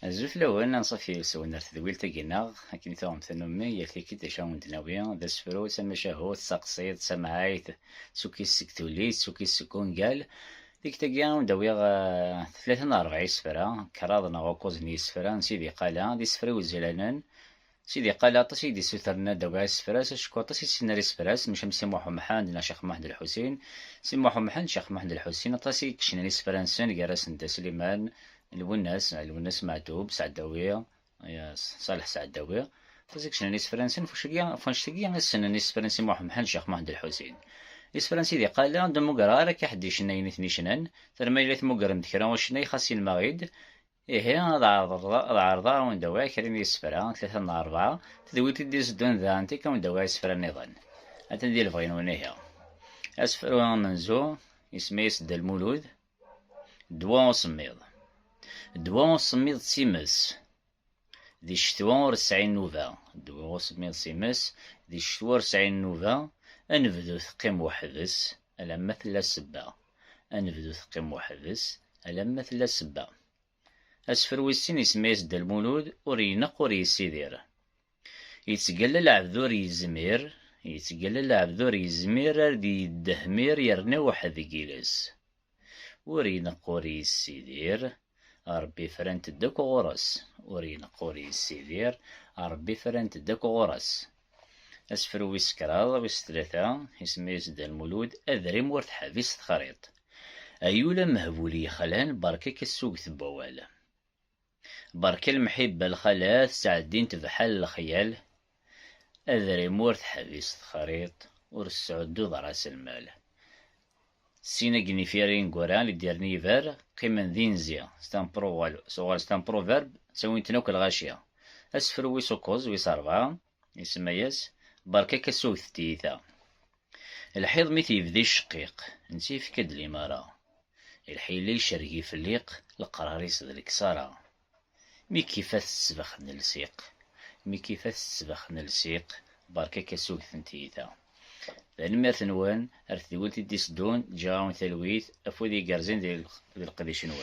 Azul fell-awen, anṣuf yes-wen ar tedwilt-agi-nneɣ, akken i tuɣem tannummi, yal tikkelt d acu ara wen-d-nawi, d asefru, d tamacahut, d taqṣiḍt, d tamɛayt, d tukkist seg tullit, d tukkist seg wungal. Tikkelt-agi ad wen-d-awiɣ tlata neɣ rebɛa isefra, kraḍ neɣ ukuẓ n yisefra n Sidi Qala, d isefra iwezlanen, Sidi Qala aṭas i d-issutren ad d-awi asefras, acku aṭas i ssnen ar isefras, maca am Si Muḥ Umḥend neɣ Ccix Muḥend Lḥusin. Si Muḥ Umḥend, Ccix Muḥend Lḥusin, aṭas i yecnan isefra-nsen, gar-asen Dda Sliman, Lwennas, Lwennas Meɛtub, Seɛdawi, Ṣaleḥ Seɛdawi. Aṭas i yecnan isefra-nsen, ɣef wanect-agi i ssnen isefra n Si Muḥ Umḥend, Ccix Muḥend Lḥusin. Isefra n Sidi Qala, ur mmuggreɣ ara akka ḥedd yecna ayen i ten-yecnan, terma yella tmuggrem-d kra ucennay xas yenmeɣ-id, Ihi, ad ɛerḍeɣ ad awen-d-awiɣ kra n yisefra, tlata neɣ rebɛa, tedwilt i d-itteddun da anti-k ad awen-d-awiɣ isefra nniḍen. Atan di lebɣi-nwen ihi. Asefru amenzu isem-is Dda Lmulud, Ddwa usemmiḍ. Ddwa usemmiḍ d times, di ccetwa ur tesɛi nnuba. Ddwa usemmiḍ times, di ccetwa ur tesɛi nnuba, ad nebdu teqqim weḥd-s alamma tella sebba. ad nebdu teqqim weḥd-s alamma tella sebba. Asefru wis sin isemma-yas Dda Lmulud, ur ineqq ur yessidir. Yettgalla lɛebd ur yezmir, yettgalla lɛebd ur yezmir ar d-yeddehmir yerna iweḥḥed deg iles. Ur ineqq ur yessidir, Ṛebbi frant-d akk ɣur-s, ur ineqq ur yessidir, Ṛebbi frant-d akk ɣur-s. Asefru wis kraḍ wis tlata, isem-is Dda Lmulud, adrim ur teḥbis texriḍt. Ay ul amehbul yexlan, beṛka-k asuget n wawal. Beṛka lemḥibba lxalat, ttɛeddint bḥal lexyal, Adrim ur teḥbis texriḍt, ur tesɛudduḍ raselmal. Sin akken ifir ineggura i d-yerna yiber, qqimen d inzi, c'est un proverbe, tuɣal c'est un proverbe, ttawin-ten akk lɣaci. Asefru wis ukkuẓ, wis rebɛa, isemma-yas, Berka-k a sugtet tiyita. Lḥiḍ mi t-yebda icceqqiq, netta yefka-d limara. Lḥila icerreg ifliq, leqrar-is d leksara. Mi k-ifat ssbax n lsiq, mi k-ifat ssbax n lsiq, berka-k asuget n tiyita. Tanemmirt-nwen ar tedwilt i d-iteddun, ǧǧiɣ-awen talwit, afud igerrzen di leqdic-nwen.